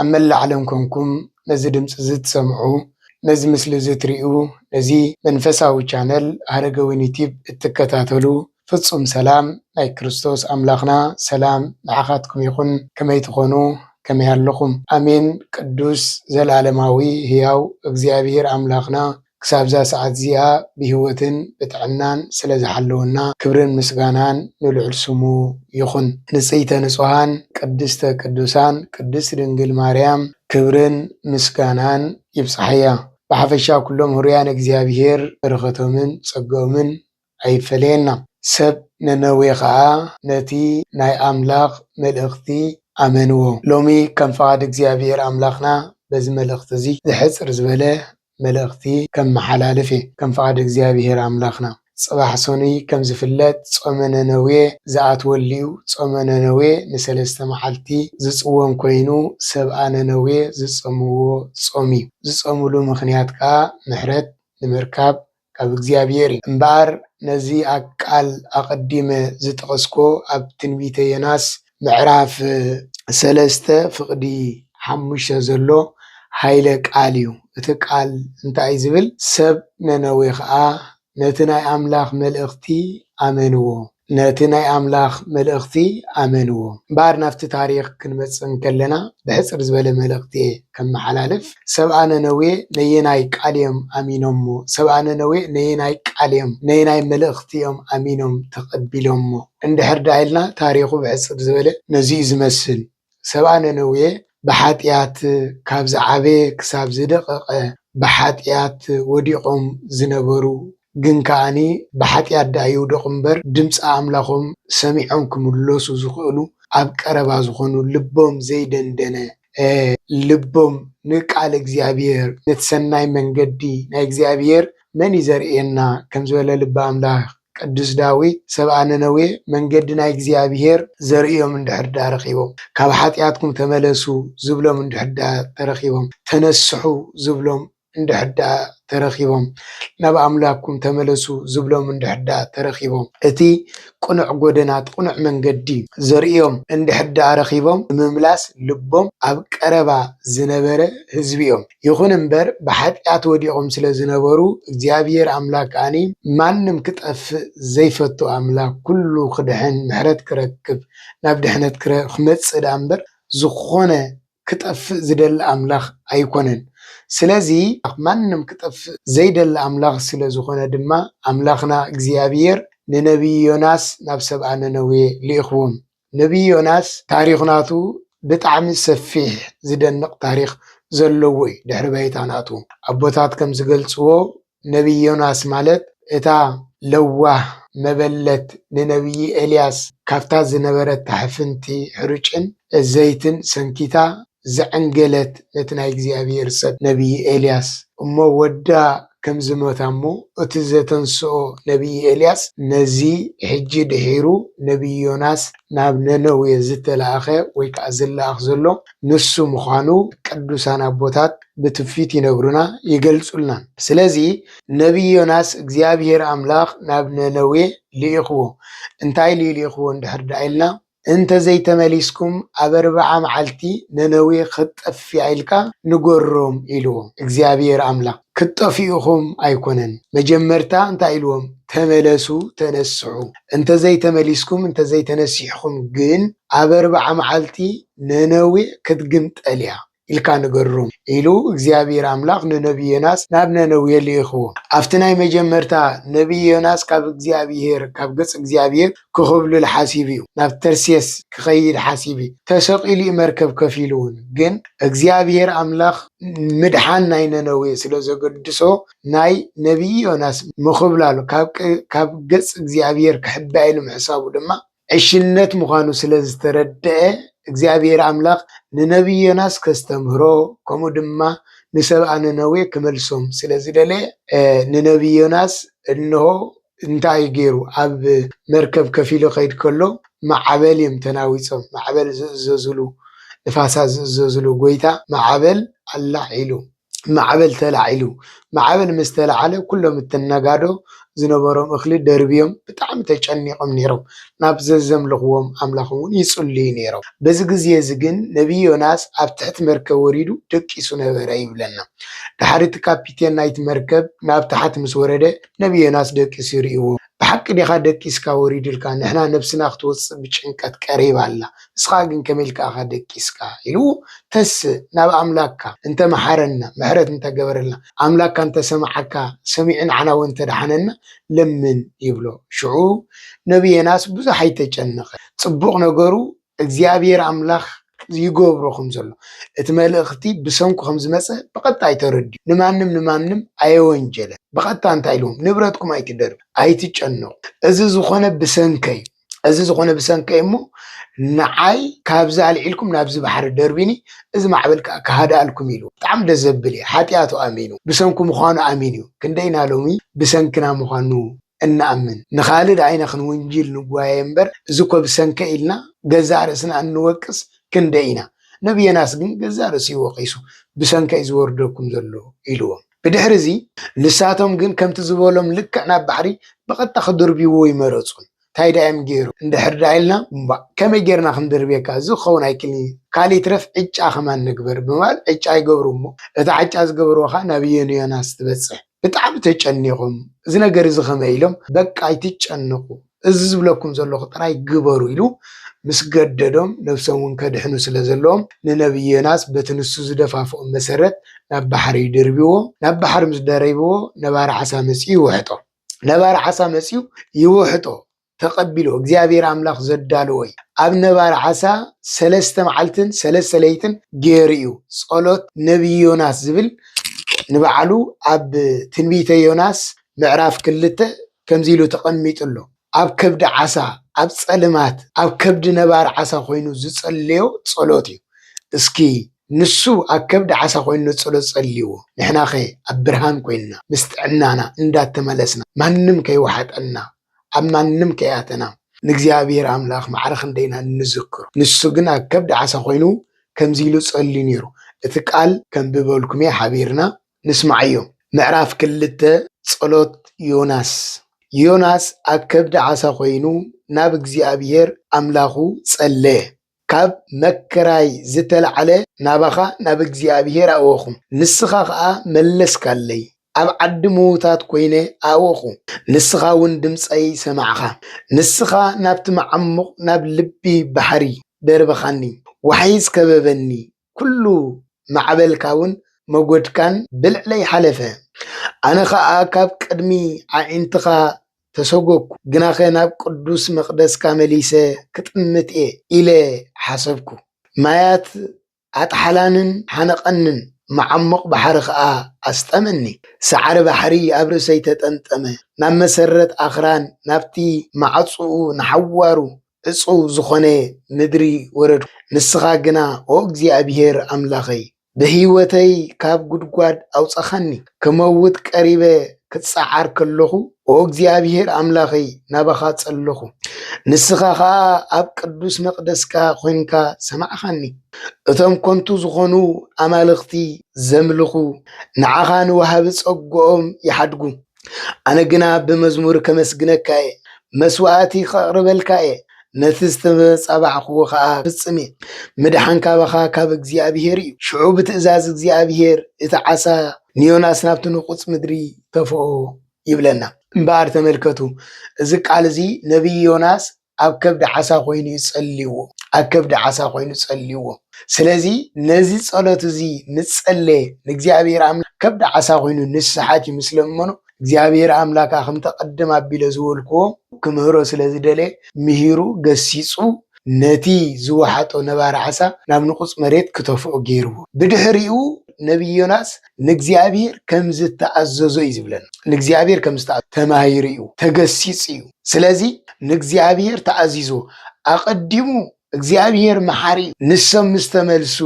ኣብ መላእ ዓለም ኮንኩም ነዚ ድምጺ እዚ ትሰምዑ ነዚ ምስሊ እዚ ትሪኡ ነዚ መንፈሳዊ ቻነል ሃረገወይኒ ቲብ እትከታተሉ ፍጹም ሰላም ናይ ክርስቶስ ኣምላኽና ሰላም ንዓኻትኩም ይኹን ከመይ ትኾኑ ከመይ ኣለኹም ኣሜን ቅዱስ ዘልኣለማዊ ህያው እግዚኣብሄር ኣምላኽና ክሳብዛ ሰዓት እዚኣ ብሂወትን ብጥዕናን ስለ ዝሓለወና ክብርን ምስጋናን ንልዑል ስሙ ይኹን። ንጽይተ ንጹሃን ቅድስተ ቅዱሳን ቅድስት ድንግል ማርያም ክብርን ምስጋናን ይብጻሓያ። ብሓፈሻ ኩሎም ህሩያን እግዚኣብሔር በረኸቶምን ጸግኦምን ኣይፈለየና። ሰብ ነነዌ ኸኣ ነቲ ናይ ኣምላኽ መልእኽቲ ኣመንዎ። ሎሚ ከም ፍቓድ እግዚኣብሄር ኣምላኽና በዚ መልእኽቲ እዚ ዝሕጽር ዝበለ መልእኽቲ ከመሓላልፍ እየ። ከም ፍቓድ እግዚኣብሄር ኣምላኽና ጽባሕ ሰኑይ ከም ዝፍለጥ ጾመ ነነዌ ዝኣትወሉ'ዩ። ጾመ ነነዌ ንሰለስተ መዓልቲ ዝጽወም ኮይኑ ሰብኣ ነነዌ ዝጸምዎ ጾም'ዩ። ዝጸምሉ ምኽንያት ከኣ ምሕረት ንምርካብ ካብ እግዚኣብሔር እዩ። እምበኣር ነዚ ቃል ኣቐዲመ ዝጠቐስኩዎ ኣብ ትንቢተ ዮናስ ምዕራፍ ሰለስተ ፍቕዲ ሓሙሽተ ዘሎ ኃይለ ቃል እዩ። እቲ ቃል እንታይ እዩ ዝብል፣ ሰብ ነነዌ ኸኣ ነቲ ናይ ኣምላኽ መልእኽቲ ኣመንዎ። ነቲ ናይ ኣምላኽ መልእኽቲ ኣመንዎ። እምበኣር ናብቲ ታሪኽ ክንመጽእ እንከለና ብሕጽር ዝበለ መልእኽቲ እየ ከመሓላልፍ። ሰብኣ ነነዌ ነየናይ ቃል እዮም ኣሚኖሞ? ሰብኣ ነነዌ ነየናይ ቃል እዮም፣ ነየናይ መልእኽቲ እዮም ኣሚኖም ተቐቢሎሞ? እንድሕር ደኣ ኢልና ታሪኹ ብሕጽር ዝበለ ነዚ እዩ ዝመስል። ሰብኣ ነነዌ ብሓጢኣት ካብ ዝዓበየ ክሳብ ዝደቐቐ ብሓጢኣት ወዲቖም ዝነበሩ ግን ከኣ ብሓጢኣት ደኣ ይውደቑ እምበር ድምፂ ኣምላኾም ሰሚዖም ክምለሱ ዝኽእሉ ኣብ ቀረባ ዝኾኑ ልቦም ዘይደንደነ ልቦም ንቃል እግዚኣብሔር ነቲ ሰናይ መንገዲ ናይ እግዚኣብሔር መን እዩ ዘርእየና ከምዝበለ ልቢ ኣምላኽ ቅዱስ ዳዊት ሰብኣ ነነዌ መንገዲ ናይ እግዚኣብሔር ዘርእዮም እንድሕር ድኣ ረኺቦም ካብ ሓጢኣትኩም ተመለሱ ዝብሎም እንድሕር ድኣ ተረኺቦም ተነስሑ ዝብሎም እንድሕር ድኣ ተረኺቦም ናብ ኣምላኩም ተመለሱ ዝብሎም እንድሕር ድኣ ተረኺቦም እቲ ቅኑዕ ጎደና እቲ ቅኑዕ መንገዲ ዘርእዮም እንድሕር ድኣ ረኺቦም ምምላስ ልቦም ኣብ ቀረባ ዝነበረ ህዝቢ እዮም። ይኹን እምበር ብኃጢኣት ወዲቖም ስለ ዝነበሩ እግዚኣብሔር ኣምላክ ከኣ ማንም ክጠፍእ ዘይፈቱ ኣምላክ ኩሉ ክድኅን ምሕረት ክረክብ ናብ ድኅነት ክመጽእ ደኣ እምበር ዝኾነ ክጠፍእ ዝደሊ ኣምላክ ኣይኮነን ስለዚ ማንም ክጠፍእ ዘይደሊ ኣምላክ ስለ ዝኾነ ድማ ኣምላክና እግዚኣብሔር ንነቢይ ዮናስ ናብ ሰብኣ ነነዌ ልኢኽዎም ነብዪ ዮናስ ታሪኽ ናቱ ብጣዕሚ ሰፊሕ ዝደንቕ ታሪኽ ዘለዎ እዩ ድሕሪ ባይታ ናቱ ኣቦታት ከም ዝገልጽዎ ነብዪ ዮናስ ማለት እታ ለዋህ መበለት ንነብዪ ኤልያስ ካብታ ዝነበረታ ሕፍንቲ ሕሩጭን ዘይትን ሰንኪታ ዘዐንገለት ነቲ ናይ እግዚኣብሄር ሰብ ነብዪ ኤልያስ እሞ ወዳ ከም ዝሞታ እሞ እቲ ዘተንሥኦ ነብዪ ኤልያስ ነዚ ሕጂ ድሒሩ ነብዪ ዮናስ ናብ ነነዌ ዝተላእከ ወይ ከኣ ዝለኣኽ ዘሎ ንሱ ምዃኑ ቅዱሳን ኣቦታት ብትውፊት ይነግሩና ይገልጹልናን ስለዚ ነብዪ ዮናስ እግዚኣብሄር ኣምላኽ ናብ ነነዌ ልኢኽዎ እንታይ ልዩ ልኢኽዎ እንድሕር ደኣ ኢልና እንተ ዘይተመሊስኩም ኣብ ኣርብዓ መዓልቲ ነነዌ ኽትጠፍእ እያ ኢልካ ንገሮም ኢልዎም። እግዚኣብሄር ኣምላኽ፣ ክትጠፍኡ ኢኹም ኣይኰነን፣ መጀመርታ እንታይ ኢልዎም፣ ተመለሱ፣ ተነስሑ፣ እንተ ዘይተመሊስኩም፣ እንተ ዘይተነሲሕኩም ግን ኣብ ኣርብዓ መዓልቲ ነነዌ ክትግምጠል እያ። ኢልካ ንገሮም ኢሉ እግዚኣብሄር ኣምላኽ ንነብዪ ዮናስ ናብ ነነዌ ልኢኽዎ። ኣብቲ ናይ መጀመርታ ነብዪ ዮናስ ካብ እግዚኣብሄር ካብ ገጽ እግዚኣብሄር ክኹብልል ሓሲቡ እዩ። ናብ ተርሴስ ክኸይድ ሓሲቡ እዩ። ተሰቂሉ እዩ መርከብ ከፊሉ እውን ግን እግዚኣብሄር ኣምላኽ ምድሓን ናይ ነነዌ ስለ ዘገድሶ ናይ ነብዪ ዮናስ ምኹብላሉ ካብ ገጽ እግዚኣብሄር ክሕባኤሉ ምሕሳቡ ድማ ዕሽነት ምዃኑ ስለ ዝተረድኣ እግዚኣብሄር ኣምላኽ ንነብዪ ዮናስ ከስተምህሮ ከምኡ ድማ ንሰብኣ ነነዌ ክመልሶም ስለ ዝደለየ ንነብዪ ዮናስ እንሆ እንታይ እዩ ገይሩ ኣብ መርከብ ከፍ ኢሉ ከይድ ከሎ ማዕበል እዮም ተናዊጾም ማዕበል ዝእዘዝሉ ንፋሳ ዝእዘዝሉ ጎይታ ማዕበል ኣላዒሉ ማዕበል ተላዒሉ። ማዕበል ምስ ተላዓለ ኩሎም እቶም ነጋዶ ዝነበሮም እኽሊ ደርብዮም ብጣዕሚ ተጨኒቖም ነይሮም። ናብ ዘዘምልኽዎም ኣምላኽ እውን ይጽልዩ ነይሮም። በዚ ግዜ እዚ ግን ነብዪ ዮናስ ኣብ ትሕቲ መርከብ ወሪዱ ደቂሱ ነበረ ይብለና። ድሓር እቲ ካፒቴን ናይቲ መርከብ ናብ ታሕቲ ምስ ወረደ ነብዪ ዮናስ ደቂሱ ርእይዎ። ብሓቂ ዲኻ ደቂስካ ወሪድልካ ንሕና ነብስና ክትወጽእ ብጭንቀት ቀሪባ ኣላ ንስኻ ግን ከመይ ኢልካ ኢኻ ደቂስካ ኢሉ ተስእ ናብ ኣምላካ እንተ መሓረና ምሕረት እንተ ገበረልና ኣምላካ እንተ ሰምዓካ ሰሚዑ ንዓና ወን እንተ ኣድሓነና ለምን ይብሎ ሽዑ ነቢ የናስ ብዙሕ ኣይተጨነቐ ጽቡቕ ነገሩ እግዚኣብሔር ኣምላኽ ዝይገብሮ ከም ዘሎ እቲ መልእኽቲ ብሰንኩ ከም ዝመጸ ብቐጣይ ተረድኡ ንማንም ንማንም ኣየወንጀለን ብቐጥታ እንታይ ኢልዎም ንብረትኩም ኣይትደርብዩ ኣይትጨነቑ እዚ ዝኾነ ብሰንከይ እዚ ዝኾነ ብሰንከይ እሞ ንዓይ ካብዚ ኣልዒልኩም ናብዚ ባሕሪ ደርቢኒ እዚ ማዕበል ከዓ ክሃድኣልኩም ኢሉ ብጣዕሚ ደስ ዘብል እዩ ሓጢኣቱ ኣሚኑ ብሰንኩ ምዃኑ ኣሚኑ እዩ ክንደይና ሎሚ ብሰንክና ምዃኑ እንኣምን ንኻልድ ኣይነ ክንውንጂል ንጓየ እምበር እዚ እኮ ብሰንከ ኢልና ገዛእ ርእስና እንወቅስ ክንደይ ኢና ነቢ ዮናስ ግን ገዛእ ርእሱ እዩ ወቒሱ ብሰንከ እዩ ዝወርደኩም ዘሎ ኢልዎም ብድሕሪ እዚ ንሳቶም ግን ከምቲ ዝበሎም ልክዕ ናብ ባሕሪ ብቐጥታ ክድርብይዎ ኣይመረጹን ታይ ድኣ እዮም ገይሮም እንድሕር ድኣ ኢልና እምቧእ ከመይ ጌርና ክንድርብየካ እዚ ክኸውን ኣይክእልን እዩ ካልእ ይትረፍ ዕጫ ከማን ንግበር ብምባል ዕጫ ይገብሩ እሞ እታ ዕጫ ዝገበርዎ ኸኣ ናብ ዮናስ ትበጽሕ ብጣዕሚ ተጨኒቖም እዚ ነገር እዚ ከመይ ኢሎም በቃ ኣይትጨነቑ እዚ ዝብለኩም ዘለኹ ጥራይ ግበሩ ኢሉ ምስ ገደዶም ነብሶም እውን ከድሕኑ ስለ ዘለዎም ንነብዪ ዮናስ በቲ ንሱ ዝደፋፍኦም መሰረት ናብ ባሕሪ ይድርብዎም ናብ ባሕሪ ምስ ደረብዎ ነባሪ ዓሳ መጺኡ ይውሕጦ ነባሪ ዓሳ መጺኡ ይውሕጦ ተቀቢሉ እግዚኣብሔር ኣምላኽ ዘዳለዎ እዩ ኣብ ነባሪ ዓሳ ሰለስተ መዓልትን ሰለስተ ለይትን ገይሩ እዩ ጸሎት ነብዪ ዮናስ ዝብል ንባዕሉ ኣብ ትንቢተ ዮናስ ምዕራፍ ክልተ ከምዚ ኢሉ ተቐሚጡ ኣሎ ኣብ ከብዲ ዓሳ ኣብ ጸልማት ኣብ ከብዲ ነባሪ ዓሳ ኮይኑ ዝጸለዮ ጸሎት እዩ እስኪ ንሱ ኣብ ከብዲ ዓሳ ኮይኑ ንጸሎት ጸልይዎ ንሕናኸ ኣብ ብርሃን ኮይንና ምስ ጥዕናና እንዳተመለስና ማንም ከይወሓጠና ኣብ ማንም ከይኣተና ንእግዚኣብሔር ኣምላኽ ማዕረ ክንደይ ኢና እንዝክሮ። ንሱ ግን ኣብ ከብዲ ዓሳ ኮይኑ ከምዚ ኢሉ ጸልዩ ነይሩ። እቲ ቃል ከንብበልኩም'የ ሓቢርና ንስማዓዮ። ምዕራፍ ክልተ ጸሎት ዮናስ ዮናስ ኣብ ከብዲ ዓሳ ኮይኑ ናብ እግዚኣብሔር ኣምላኹ ጸለየ። ካብ መከራይ ዝተላዕለ ናባኻ ናብ እግዚኣብሄር ኣእወኹ፣ ንስኻ ኸኣ መለስካለይ፣ ኣብ ዓዲ ምዉታት ኰይነ ኣእወኹ፣ ንስኻውን ድምጸይ ሰማዕካ። ንስኻ ናብቲ መዓሙቕ ናብ ልቢ ባሕሪ ደርበኻኒ፣ ዋሕይስ ከበበኒ፣ ኩሉ ማዕበልካውን መጐድካን ብልዕለይ ሓለፈ፣ ኣነ ኸኣ ካብ ቅድሚ ኣዒንትኻ ተሰጐግኩ፣ ግናኸ ናብ ቅዱስ መቕደስካ መሊሰ ክጥምት እየ ኢለ ሓሰብኩ። ማያት ኣጥሓላንን ሓነቐንን፣ መዓሙቕ ባሕሪ ኸኣ ኣስጠመኒ። ሳዕሪ ባሕሪ ኣብ ርእሰይ ተጠምጠመ፣ ናብ መሰረት ኣኽራን፣ ናብቲ ማዕጾኡ ንሓዋሩ ዕጹው ዝኾነ ምድሪ ወረድኩ። ንስኻ ግና ኦ እግዚኣብሄር ኣምላኸይ፣ ብህይወተይ ካብ ጕድጓድ ኣውጻኻኒ። ክመውት ቀሪበ ክጸዓር ከለኹ፣ ኦ እግዚኣብሄር ኣምላኸይ፣ ናባኻ ጸለኹ። ንስኻ ኸኣ ኣብ ቅዱስ መቕደስካ ዄንካ ሰማዕካኒ። እቶም ከንቱ ዝኾኑ ኣማልኽቲ ዘምልኹ፣ ንዓኻ ንወሃቢ ጸግኦም ይሓድጉ። ኣነ ግና ብመዝሙር ከመስግነካ እየ፣ መስዋእቲ ኸቕርበልካ እየ፣ ነቲ ዝተጻባዕክዎ ኸኣ ክፍጽም እየ። ምድሓን ካባኻ ካብ እግዚኣብሄር እዩ። ሽዑ ብትእዛዝ እግዚኣብሄር እቲ ዓሳ ንዮናስ ናብቲ ንቑጽ ምድሪ ተፍኦ ይብለና። እምበኣር ተመልከቱ፣ እዚ ቃል እዚ ነብዪ ዮናስ ኣብ ከብዲ ዓሳ ኮይኑ እዩ ጸልይዎ ኣብ ከብዲ ዓሳ ኮይኑ ጸልይዎ ስለዚ ነዚ ጸሎት እዚ ምስ ጸለየ ንእግዚኣብሔር ኣምላክ ከብዲ ዓሳ ኮይኑ ንስሓት እዩ ምስ ለመኖ እግዚኣብሔር ኣምላካ ከምተ ቅድም ኣቢለ ዝበልክዎ ክምህሮ ስለ ዝደለየ ምሂሩ ገሲጹ ነቲ ዝወሓጦ ነባሪ ዓሳ ናብ ንቁጽ መሬት ክተፍኦ ገይርዎ ብድሕሪኡ ነብይ ዮናስ ንእግዚኣብሔር ከም ዝተኣዘዞ እዩ ዝብለና። ንእግዚኣብሔር ከም ዝተኣዘዞ ተማሂሩ እዩ፣ ተገሲጹ እዩ። ስለዚ ንእግዚኣብሔር ተኣዚዞ ኣቐዲሙ እግዚኣብሔር መሓሪ እዩ። ንሶም ምስ ተመልሱ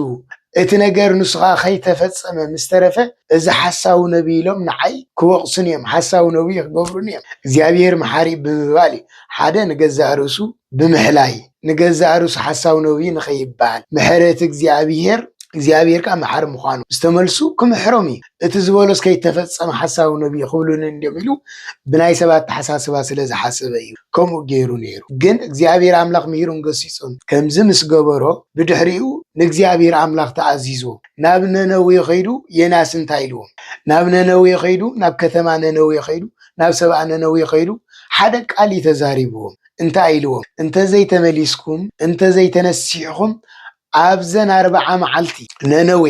እቲ ነገር ንስኻ ከይተፈጸመ ምስ ተረፈ እዚ ሓሳዊ ነቢይ ኢሎም ንዓይ ክወቕሱን እዮም፣ ሓሳዊ ነቢይ ክገብሩን እዮም። እግዚኣብሔር መሓሪ ብምባል ሓደ ንገዛእ ርእሱ ብምሕላይ ንገዛእ ርእሱ ሓሳዊ ነው እዩ ንኸይብሃል፣ ምሕረት እግዚኣብሄር፣ እግዚኣብሄር ከኣ መሓሪ ምዃኑ ዝተመልሱ ክምሕሮም እዩ። እቲ ዝበሎስ ከይተፈጸመ ሓሳዊ ነው እዩ ክብሉኒ እንድዮም ኢሉ ብናይ ሰብ ኣተሓሳስባ ስለ ዝሓሰበ እዩ ከምኡ ገይሩ ነይሩ። ግን እግዚኣብሄር ኣምላኽ ምሂሩን ገሲጹን ከምዚ ምስ ገበሮ ብድሕሪኡ ንእግዚኣብሄር ኣምላኽ ተኣዚዙ ናብ ነነዌ ኸይዱ የናስ እንታይ ኢልዎም? ናብ ነነዌ ኸይዱ ናብ ከተማ ነነዌ ኸይዱ ናብ ሰብኣ ነነዌ ኸይዱ ሓደ ቃል እዩ ተዛሪብዎም። እንታይ ኢልዎም እንተዘይተመሊስኩም እንተዘይተነሲሕኹም ኣብዘን ኣርብዓ መዓልቲ ነነዌ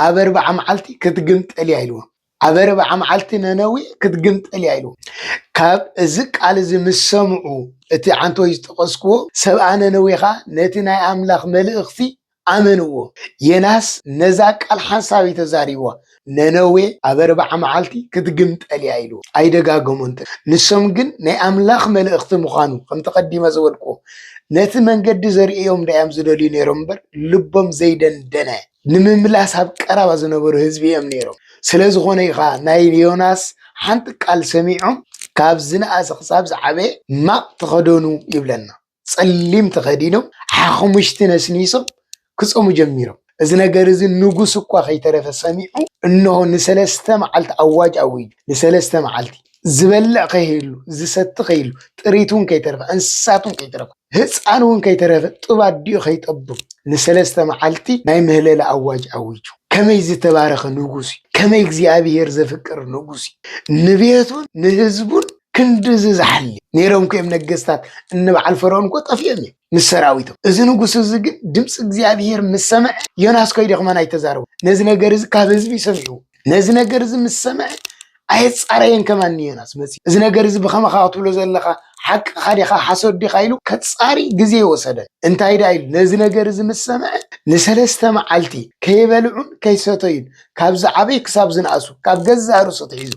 ኣብ ኣርብዓ መዓልቲ ክትግምጠል እያ ኢልዎም ኣብ ኣርብዓ መዓልቲ ነነዌ ክትግምጠል እያ ኢልዎም ካብ እዚ ቃል እዚ ምስ ሰምዑ እቲ ዓንተወይ ዝጠቐስክዎ ሰብኣ ነነዌ ኸኣ ነቲ ናይ ኣምላኽ መልእኽቲ ኣመንዎ። ዬናስ ነዛ ቃል ሓንሳብ እዩ ተዛሪብዋ፣ ነነዌ ኣብ ኣርብዓ መዓልቲ ክትግምጠል እያ ኢልዎ። ኣይደጋገሞን ተግሂ። ንሶም ግን ናይ ኣምላኽ መልእኽቲ ምዃኑ፣ ከምቲ ቀዲመ ዝበልክዎ፣ ነቲ መንገዲ ዘርእዮም ደኣዮም ዝደልዩ ነይሮም እምበር፣ ልቦም ዘይደንደነ፣ ንምምላስ ኣብ ቀረባ ዝነበሩ ህዝቢ እዮም ነይሮም። ስለ ዝኾነ እዩ ኸኣ ናይ ዮናስ ሓንቲ ቃል ሰሚዖም ካብ ዝነኣሰ ክሳብ ዝዓበየ ማቕ ተኸደኑ ይብለና። ፀሊም ተኸዲኖም ሓኽሙሽቲ ነስኒሶም ክፀሙ ጀሚሮም። እዚ ነገር እዚ ንጉስ እኳ ከይተረፈ ሰሚዑ እንሆ ንሰለስተ መዓልቲ ኣዋጅ ኣዊጁ። ንሰለስተ መዓልቲ ዝበልዕ ከይህሉ፣ ዝሰቲ ከይህሉ፣ ጥሪት እውን ከይተረፈ፣ እንስሳት እውን ከይተረፈ፣ ህፃን እውን ከይተረፈ፣ ጡብ ኣዲኡ ከይጠብብ ንሰለስተ መዓልቲ ናይ ምህለላ ኣዋጅ ኣዊጁ። ከመይ ዝተባረኸ ንጉስ እዩ! ከመይ እግዚኣብሄር ዘፍቅር ንጉስ እዩ! ንቤቱን ንህዝቡን ክንድዚ ዝሓሊ ነይሮም እኮ እዮም ነገስታት፣ እኒ በዓል ፈርዖን እኮ ጠፊኦም እዮም ምስ ሰራዊቶም። እዚ ንጉስ እዚ ግን ድምፂ እግዚኣብሄር ምስ ሰምዐ ዮናስ ከይዱ ከማን ኣይተዛረቡ ነዚ ነገር እዚ ካብ ህዝቢ ሰሚዑ ነዚ ነገር እዚ ምስ ሰምዐ ኣየፃረየን ከማን ንዮናስ መፂኡ እዚ ነገር እዚ ብኸመኻ ክትብሎ ዘለኻ ሓቅኻ ዲኻ ሓሶት ዲኻ ኢሉ ከፃሪ ግዜ ይወሰደን እንታይ ዳ ኢሉ ነዚ ነገር እዚ ምስ ሰምዐ ንሰለስተ መዓልቲ ከይበልዑን ከይሰተዩን ካብ ዝዓበይ ክሳብ ዝነኣሱ ካብ ገዛ ርእሱ ትሒዙ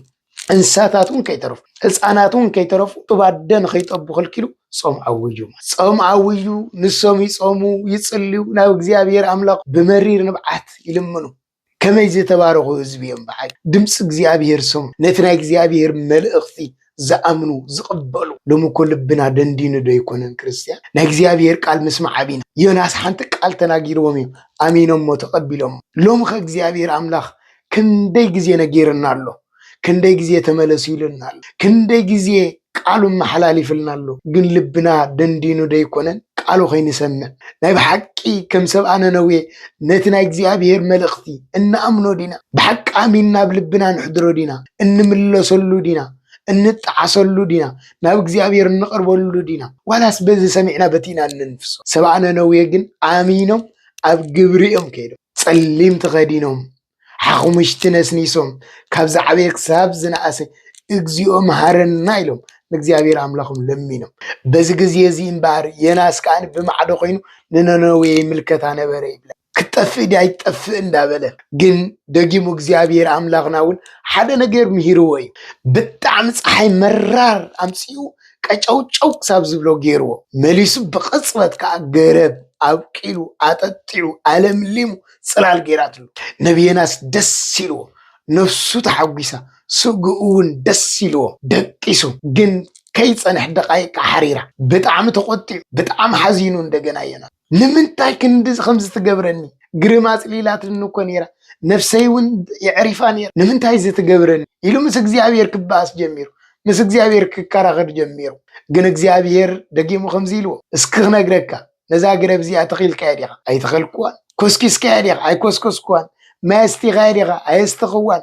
እንስሳታት እውን ከይተረፉ ህፃናት እውን ከይተረፉ እብ ኣደ ንኸይጠቡ ከልኪሉ ፆም ዓውዩ ፆም ዓውዩ ንሶም ይፆሙ ይፅልዩ ናብ እግዚኣብሔር ኣምላኽ ብመሪር ንብዓት ይልምኑ ከመይ ዝተባረኹ ህዝቢ እዮም በዓል ድምፂ እግዚኣብሔር ሰሙ ነቲ ናይ እግዚኣብሔር መልእኽቲ ዝኣምኑ ዝቕበሉ ሎሚ እኮ ልብና ደንዲኑ ዶ ኣይኮነን ክርስትያን ናይ እግዚኣብሔር ቃል ምስማዕ ኣቢና ዮናስ ሓንቲ ቃል ተናጊርዎም እዩ ኣሚኖሞ ተቐቢሎሞ ሎሚ ከ እግዚኣብሔር ኣምላኽ ክንደይ ግዜ ነጊርና ኣሎ ክንደይ ግዜ ተመለሱ ኢሉና ኣሎ ክንደይ ግዜ ቃሉ ኣመሓላሊፍልና ኣሎ ግን ልብና ደንዲኑ ደይኮነን ቃሉ ከይንሰምዕ ናይ ብሓቂ ከም ሰብኣ ነነዌ ነቲ ናይ እግዚኣብሔር መልእኽቲ እንኣምኖ ዲና ብሓቂ ኣሚንና ኣብ ልብና ንሕድሮ ዲና እንምለሰሉ ዲና እንጠዓሰሉ ዲና ናብ እግዚኣብሔር እንቐርበሉ ዲና ዋላስ በዚ ሰሚዕና በቲ ኢና እንንፍሶ ሰብኣ ነነዌ ግን ኣሚኖም ኣብ ግብሪ እዮም ከይዶም። ፀሊም ተኸዲኖም ሓኹምሽቲ ነስኒሶም ካብ ዝዓበየ ክሳብ ዝነኣሰ እግዚኦ መሃረና ኢሎም ንእግዚኣብሔር ኣምላኾም ለሚኖም። በዚ ግዜ እዚ እምበኣር ዮናስ ከኣ ብማዕዶ ኮይኑ ንነነዌ ይምልከታ ነበረ ይብለን። ክትጠፍእ ድያ ኣይትጠፍእ እንዳበለ ግን ደጊሙ እግዚኣብሔር ኣምላኽና እውን ሓደ ነገር ምሂርዎ እዩ። ብጣዕሚ ፀሓይ መራር ኣምፂኡ ቀጨውጨው ክሳብ ዝብሎ ገይርዎ። መሊሱ ብቕጽበት ከኣ ገረብ ኣብቂሉ፣ ኣጠጢዑ፣ ኣለምሊሙ ጽላል ገይራትሉ። ነቢ ዮናስ ደስ ኢልዎ፣ ነፍሱ ተሓጒሳ፣ ስግኡ'ውን ደስ ኢልዎ፣ ደቂሱ። ግን ከይጸንሐ ደቓይቅ ከኣ ሓሪራ። ብጣዕሚ ተቖጢዑ፣ ብጣዕሚ ሓዚኑ እንደገና ዮናስ። ንምንታይ ክንድዚ ከምዚ ትገብረኒ ግርም ኣጽሊላትኒ እኮ ነይራ ነፍሰይ እውን የዕሪፋ ነይራ ንምንታይ እዚ ትገብረኒ ኢሉ ምስ እግዚኣብሔር ክበኣስ ጀሚሩ ምስ እግዚኣብሔር ክከራኸር ጀሚሩ ግን እግዚኣብሔር ደጊሙ ከምዚ ኢልዎ እስኪ ክነግረካ ነዛ ግረብ እዚኣ ተኺልካያ ዲኻ ኣይተኸልክዋን ኮስኪስካያ ዲኻ ኣይኮስኮስክዋን ማይ ኣስቲኻያ ዲኻ ኣየስተኽዋን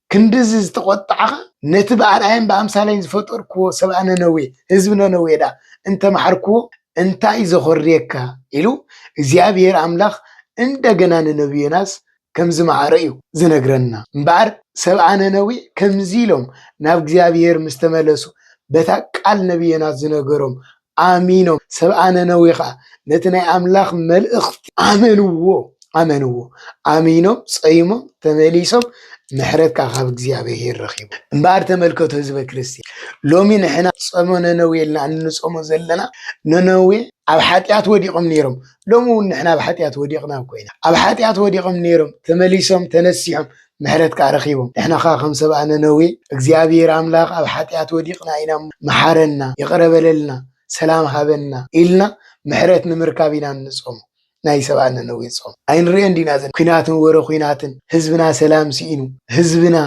ክንድዚ ዝተቖጣዕኻ ነቲ ብኣርኣያን ብኣምሳለይን ዝፈጠርክዎ ሰብኣ ነነዌ፣ ህዝቢ ነነዌ፣ ደኣ እንተ መሓርክዎ እንታይ ዘኾርየካ? ኢሉ እግዚኣብሄር ኣምላኽ እንደገና ንነብዩ ዮናስ ከም ዝመሓሮ እዩ ዝነግረና። እምበኣር ሰብኣ ነነዌ ከምዚ ኢሎም ናብ እግዚኣብሄር ምስ ተመለሱ በታ ቃል ነብዪ ዮናስ ዝነገሮም ኣሚኖም፣ ሰብኣ ነነዌ ኸኣ ነቲ ናይ ኣምላኽ መልእኽቲ ኣመንዎ፣ ኣመንዎ፣ ኣሚኖም፣ ጸይሞም፣ ተመሊሶም፣ ምሕረት ከኣ ካብ እግዚኣብሄር ረኺቦም። እምበኣር ተመልከቱ ህዝበ ክርስቲያን፣ ሎሚ ንሕና ጾመ ነነዌ ኢልና እንጾሞ ዘለና፣ ነነዌ ኣብ ሓጢኣት ወዲቖም ነይሮም፣ ሎሚ እውን ንሕና ኣብ ሓጢኣት ወዲቕና እኮ ኢና፣ ኣብ ሓጢኣት ወዲቖም ነይሮም፣ ተመሊሶም፣ ተነሲሖም፣ ምሕረት ከኣ ረኺቦም። ንሕና ከኣ ከም ሰብኣ ነነዌ እግዚኣብሄር ኣምላኽ ኣብ ሓጢኣት ወዲቕና ኢና እሞ መሓረና፣ ይቕረ በለልና፣ ሰላም ሃበና ኢልና ምሕረት ንምርካብ ኢና እንጾሞ። ናይ ሰብኣ ነነዌ ጾም ኣይንርእዮን ዲና ዘን ኩናትን ወረ ኩናትን ህዝብና ሰላም ሲኢኑ ህዝብና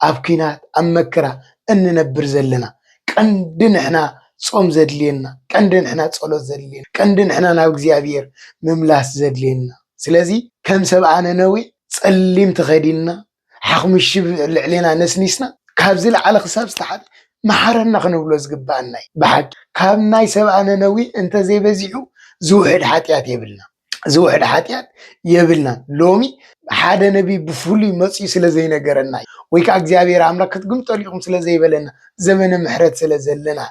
ኣብ ኩናት ኣብ መከራ እንነብር ዘለና ቀንዲ ንሕና ጾም ዘድልየና ቀንዲ ንሕና ጸሎት ዘድልየና ቀንዲ ንሕና ናብ እግዚኣብሔር ምምላስ ዘድልየና ስለዚ ከም ሰብኣ ነነዌ ጸሊም ተኸዲንና ሓኽምሽብ ኣብ ልዕሌና ነስኒስና ካብ ዝለዓለ ክሳብ ዝተሓተ መሓረና ክንብሎ ዝግበኣና እዩ። ብሓቂ ካብ ናይ ሰብኣ ነነዊ እንተዘይበዚሑ ዝውሕድ ሓጢኣት የብልና ዝውሕድ ሓጢኣት የብልናን ሎሚ ሓደ ነቢይ ብፍሉይ መጽዩ ስለ ዘይነገረና እዩ ወይ ከዓ እግዚኣብሔር ኣምላክ ክትግምጠሉ ኢኹም ስለ ዘይበለና ዘመነ ምሕረት ስለ ዘለና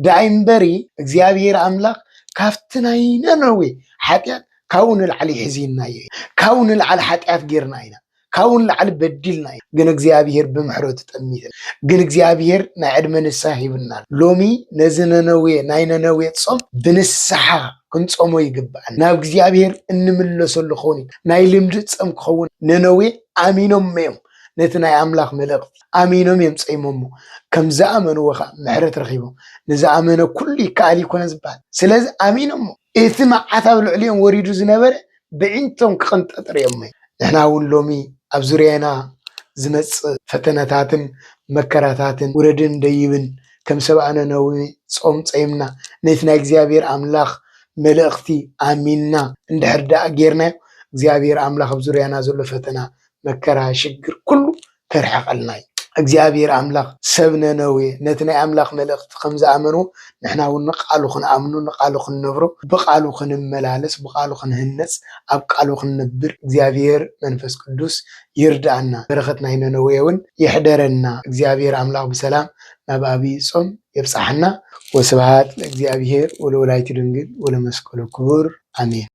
ዳይ እምበሪ እግዚኣብሔር ኣምላክ ካብቲ ናይ ነነዌ ሓጢኣት ካብኡ ንላዕሊ ሕዚንናዮ ኢና፣ ካብኡ ንላዕሊ ሓጢኣት ጌርና ኢና፣ ካብኡ ንላዕሊ በዲልና ኢና፣ ግን እግዚኣብሄር ብምሕረቱ ጠሚትና፣ ግን እግዚኣብሄር ናይ ዕድመ ንስሓ ሂብና ኣሎ፣ ሎሚ ነዚ ነነዌ ናይ ነነዌ ጾም ብንስሓ ክንጾሞ ይግብኣና፣ ናብ እግዚኣብሄር እንምለሰሉ ክኸውን ይግብኣና፣ ናይ ልምዲ ጸም ክኸውን፣ ነነዌ ኣሚኖሞ እዮም ነቲ ናይ ኣምላኽ መልእኽቲ ኣሚኖም እዮም ጸይሞሞ፣ ከም ዝኣመንዎ ከኣ ምሕረት ረኺቦም፣ ንዝኣመነ ኩሉ ይከኣል እዩ ኣይኮነን ዝበሃል፣ ስለዚ ኣሚኖሞ። እቲ መዓት ኣብ ልዕሊኦም ወሪዱ ዝነበረ ብዒንቶም ክቕንጠጥ ርእዮምይ። ንሕና እውን ሎሚ ኣብ ዙርያና ዝመጽእ ፈተነታትን መከራታትን ውረድን ደይብን ከም ሰብኣ ነነዌ ጾም ጸይምና ነቲ ናይ እግዚኣብሔር ኣምላኽ መልእኽቲ ኣሚንና እንድሕር ደኣ ጌርናዮ እግዚኣብሔር ኣምላኽ ኣብ ዙርያና ዘሎ ፈተና መከራ ሽግር ኩሉ ከርሕቀልና እዩ እግዚኣብሔር ኣምላክ ሰብ ነነዌ ነቲ ናይ ኣምላክ መልእክቲ ከም ዝኣመንዎ ንሕና እውን ንቃሉ ክንኣምኖ ንቃሉ ክንነብሮ ብቃሉ ክንመላለስ ብቃሉ ክንህነፅ ኣብ ቃሉ ክንነብር እግዚኣብሔር መንፈስ ቅዱስ ይርድኣና በረከት ናይ ነነዌ እውን ይሕደረና እግዚኣብሔር ኣምላክ ብሰላም ናብ ኣብይ ፆም የብፀሐና ወስብሃት ለእግዚኣብሔር ወለወላይቱ ድንግል ወለመስቀሉ ክቡር ኣሜን።